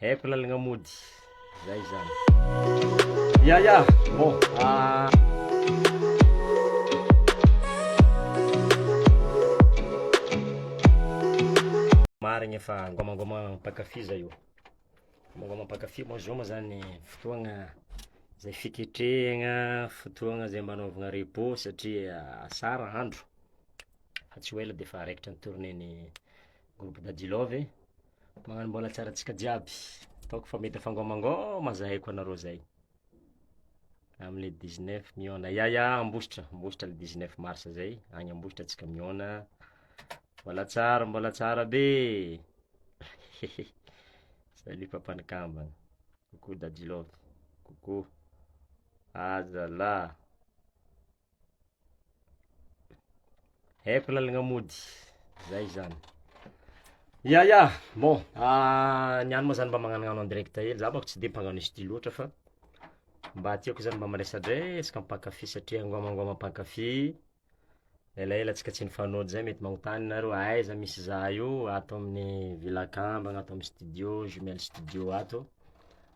Haiko lalagna mody. Zay zany. Ya ya, bon. Ah. Marigny fa gômagômagna mpankafy zah io. Gômagômagna mpankafy moa zao moa zany fotoagna zay fiketrehagna, fotoagna zay mba anaovagna repos satria asara andro fa tsy ho ela de efa raikitra ny tournée ny groupe dadilove. Magnano mbola tsara antsika jiaby. Ataoko fa mety afangômangôma zay ko anareo zay. Amle 19 miôna. Ya ya Ambositra, Ambositra le 19 mars zay, agny Ambositra antsika miôna. Mbola tsara, mbola tsara be. Salut papa nikambana. Coucou Dadilove. Coucou. Aza la. Haiko lalagna mody zay zany. Ya ya bon ny any moa zany mba magnanognano en direct hely za manko tsy de mpagnano studio loatra fa mba tiako zany mba miresadresaka mpankafy satria angôma angôma mpankafy elaela antsika tsy nifanojo zay mety magnontany nareo aiza misy za io ato amin'ny villa kambana ato amin'ny studio jumelle studio ato.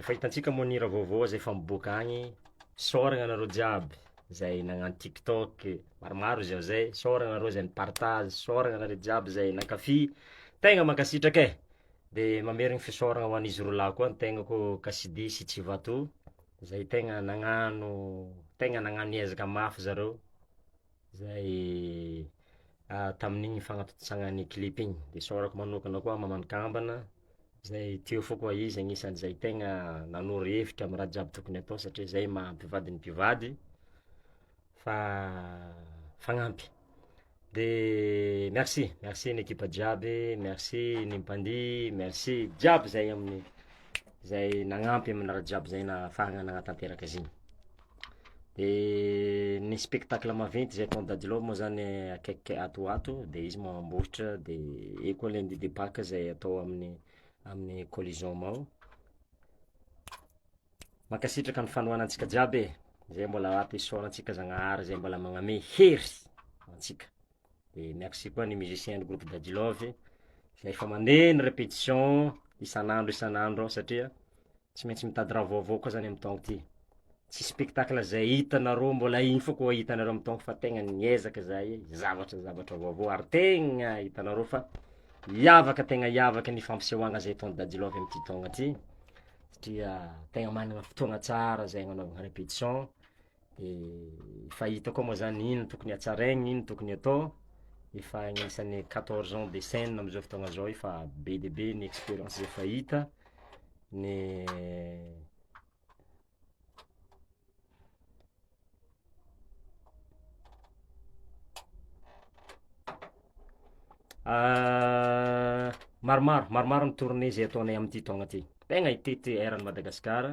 Efa hitantsika moa ny hira vaovao aza efa miboaka agny, saoragna anareo jiaby zay nagnano tiktok, maromaro izy ao zay, saoragna anareo zay ni-partage, saoragna anareo jiaby zay nankafy, tegna mankasitraka e! de mamerigny fisaoragna ho an'izy roa lahy koa ny tegnako Kasidy sy Tsivato zay tegna nagnano tegna nagnano ezaka mafy zareo. Zay tamin'igny fagnatontosagna ny clip igny, de isaorako magnokana koa Maman'i kambana zay teo fô koa izy agnisan'izay tegna nanoro hevitra amy raha jiaby tokony atao satria zay maha mpivady ny mpivady fa fagnampy, de merci merci ny ekipa jiaby, merci ny mpandihy, merci jiaby zay amin'ny zay nagnampy amin'ny raha jiaby zay nahafahana nagnatanteraka izy igny. De ny spectacle maventy zay ataon'i Dadilao moa zany akaiky ato ho ato de izy mamboatra de eo koa lundi de paque zay atao amin'ny amin'ny collision ao. Mankasitraka ny fanohana antsika jiaby e, zay mbola ato isaorantsika Zagnahary zay mbola magname hery antsika. Dia merci koa ny musicien ny groupe Daddy Love izay efa mandeha ny répétition isan'andro isan'andro ao satria tsy maintsy mitady raha vaovao koa zany amin'ny taona ity. Tsy spectacle izay hitanareo mbola iny foana koa hitanareo amin'ny taona fa tegna niezaka izahay zavatra zavatra vaovao ary tegna hitanareo fa hiavaka tegna hiavaka ny fampisehoagna zay ataon'i Daddy Love amin'ity taona ty satria tegna managna fotoagna tsara zay agnanaovagna répétition. Efa hita koa moa zany ino tokony hatsaraigny, ino tokony atao, efa agnisan'ny quatorze ans de scène amizao fotoagna zao efa be dia be ny experience efa hita, ny maromaro maromaro ny tournée zay ataonay amty taogna ty, tegna hitety eran'i Madagasikara.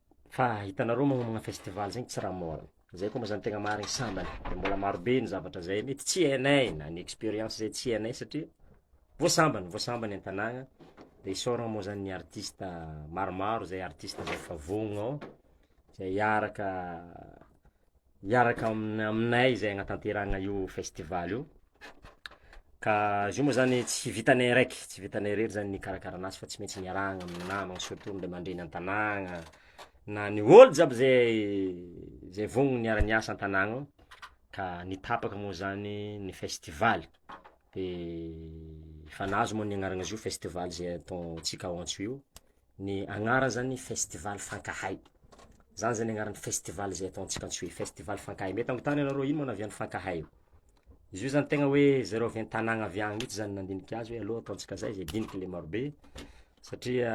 Fa hitanareo magnomagna festival zegny tsy raha môra, zay koa mba zany tegna marigny sambany de mbola marobe ny zavatra zay mety tsy hainay na ny experience zay tsy hainay satria vô sambany vô sambany an-tagnana de isaoragna moa zany ny artista maromaro zay artista zay efa vognogno zay hiaraka hiaraka aminay izay hanatanterahana io festival io, ka izy io moa zany tsy vitanay araiky tsy vitanay irery zany ny hikarakarana azy fa tsy maintsy miarahana amin'ny namana surtout ny ray aman-dreny an-tanàgna na ny olo jiaby ze ze vonona hiara hiasa an-tanàgna ao, ka ny tapaka moa zany ny festival de fanahy izy moa ny anaran'izy io festival ze ataontsika ao Antso io. Ny agnarany zany festival fankahay, zany zany agnaran'ny festival zay ataontsika antsoy festival fankahay, mety agnotania nareo ino moa avy any fankahay io? Izy io zany tegna hoe zareo avy an-tagnana avy any mintsy zany nandinika azy hoe aleo ataontsika zay zay diniky le marobe satria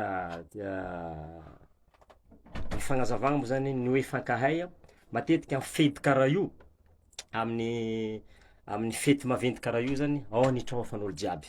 ny fagnazavana moa zany ny hoe fankahay matetika amy fety kara io amin'ny amin'ny fety maventy kara io zany ao ny traofan'olo jiaby.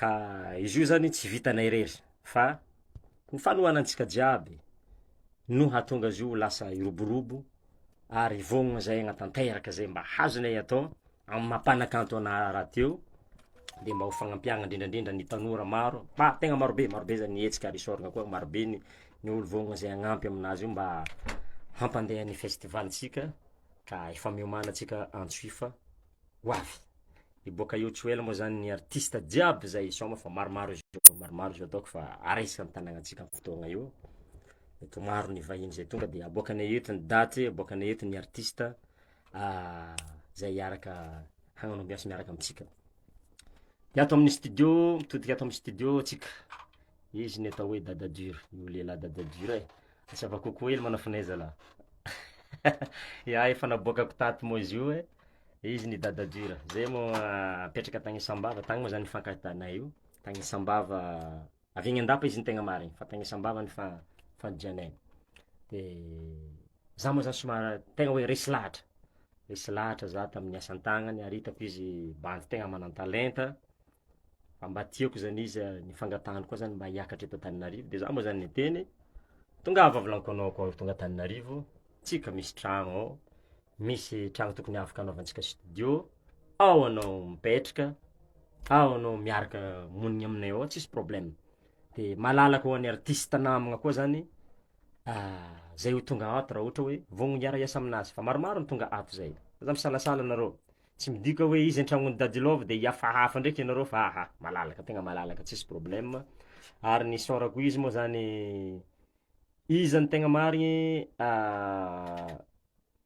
Ka izy io zany tsy vitanay irery fa ny fanohanantsika jiaby no hahatonga azy io ho lasa hiroborobo ary hivognona zay hagnatanteraka zay mba hazonay atao amin'ny maha mpanakanto anah rahateo de mba ho fagnampiagna indrindra indrindra ny tanora maro fa tegna marobe marobe zany ny hetsika ary isaorana koa marobe ny ny olo vognona zay hagnampy aminazy io mba hampandeha ny festival ntsika ka efa miomana antsika antso hifa ho avy. Miboaka eo tsy ho ela moa zany ny artista jiaby zay hisaoma fa maromaro izy io, maromaro izy io ataoko fa araisiko am tanagnantsika am fotoagna io, mety ho maro ny vahiny zay tonga de aboakanay eto ny daty, aboakanay eto ny artista zay hiaraka hagnano ambiance miaraka amintsika, de ato amin'ny studio mitodika ato amin'ny studio tsika, izy ny atao hoe dada dur, io lehilahy dada dur e, asava kokoa hely manafinahy zalah, ia efa naboakako tato moa izy io e. Izy ny dada dur, zay mo apetraka tany sambava tany mo zany nifankahitanay io, tany sambava avy any andapa izy no tegna marigny fa tany sambava nifandrianay, de zah mo zany somary tegna hoe resy lahatra, resy lahatra zah tamin'ny asa an-tagnana ary hitako izy bandy tegna manan-talenta fa mba tiako zany izy ny fangatahany koa zany mba hiakatra eto Antananarivo de zah mo zany niteny tongava avy lankônôko ao tonga Antananarivo tsika misy tragno ao. Misy tragno tokony afaka anaovantsika studio, ao anao mipetraka, ao anao miaraka monigny aminay ao tsisy problema, de malalaka ho an'ny artista namagna koa zany zay ho tonga ato raha ohatra hoe vonona hiara hiasa aminazy fa maromaro ny tonga ato zay, fa zah misalasala anareo, tsy midika hoe izy an-tragnon'i Dadi Love de hiafahafa ndraiky ianareo fa aha, malalaka tegna malalaka tsisy problema, ary ny isaorako izy moa zany izy zany tegna marigny.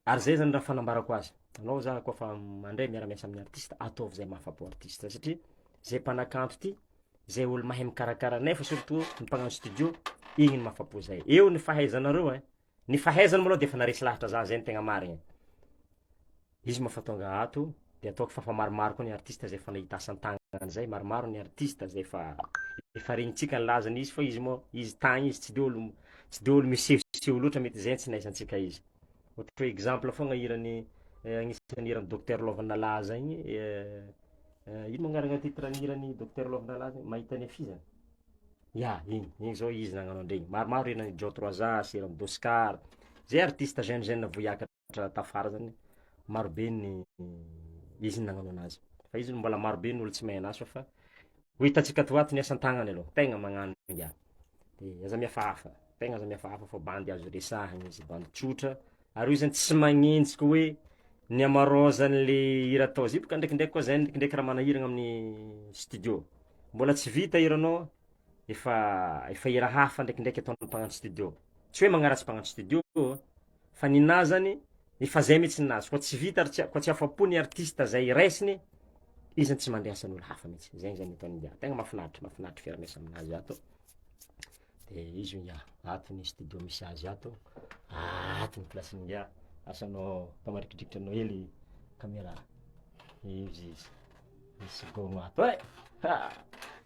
Ary izay zany raha fanambarako azy anao za koa fa mandray miara miasa amin'ny artiste ataovy izay mahafa po artiste satria zay mpanakanto ty zay olo mahay mikarakara nefa surtout ny mpagnano studio igny no mahafa po zay eo ny fahaizanareo e ny fahaizany maloha de efa naharesy lahatra za zay no tegna marigny e izy mahafa tonga ato de ataoko fa efa maromaro koa ny artiste zay efa nahita asa an-tagnana zay, maromaro ny artiste zay efa efa regnintsika ny lazany izy fa izy moa izy tagny izy tsy de olo tsy de olo misehoseho loatra mety zay tsy nahisantsika izy, ohatra hoe exemple fogna hiran'ny agnisan'ny hiran'i Docteur Lovanalahy zay igny ino moa agnarana titre ny hiran'i Docteur Lovanalahy zay mahita ny hafizana? ya igny igny zao izy nagnano an-dregny, maromaro hiran'i John Trois As, hiran'i Doscar, zay artiste jeune jeune voa hiakatra. Raha tafara zany maro be ny izy nagnano anazy fa izy mbola maro be ny olo tsy mahay anazy fa fa ho hitantsika ato ho ato ny asan-tagnany aloha tegna magnano ingahy de aza mihafahafa tegna aza mihafahafa fa bandy azo resahina izy bandy tsotra ary io zany tsy magnenjika hoe ny hamaraozany le hira atao zay boka ndrekindreky koa zay ndrekindreky raha manahirana amin'ny studio mbola tsy vita hiranao efa efa hira hafa ndrekindreky ataon'ny mpagnano studio tsy hoe magnaratsy mpagnano studio ô. fa ny nahy zany efa zay mitsy ny nazy koa tsy vita ary koa tsy afapo ny artiste zay raisiny izy zany tsy mandre asan'olo hafa mitsy zegny zany ataony ingahy tegna mafinaritra mafinaritra fiaraha-miasa aminazy ato de izy ingahy ato ny studio misy azy ato ato ny place-ny ingahy asa anao atao marikidrikitra anao hely camera izy izy misy gôgno ato e ha.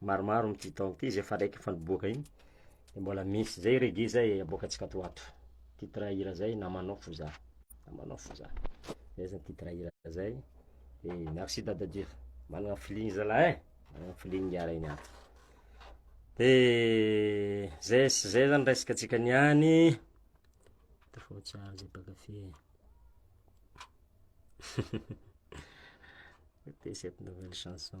maromaro amty taona ity zay efa raiky efa niboaka iny de mbola misy zay reggae zay aboakantsika ato ho ato titre hira zay namanao fo zah namanao fo zah zay zany titre hira zay de merci dada dur managna feeling zalah e managna feeling hiara iny ato de zay sy zay zany resaka tsika niany tafao tsara zay mpakafy e Écoutez cette nouvelle chanson.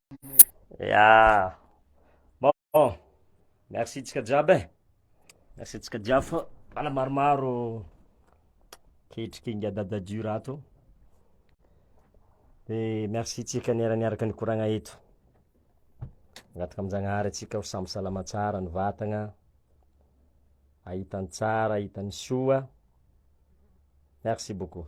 Ya. Bon. Merci tsika jiaby e. Merci tsika jiaby fa mbola maromaro kehitriky inga dada dur ato. Dia merci tsika niera niaraka nikoragna eto. Agnatika amin-Jagnahary atsika ho samy salama tsara ny vatagna, ahita ny tsara, ahita ny soa. Merci beaucoup.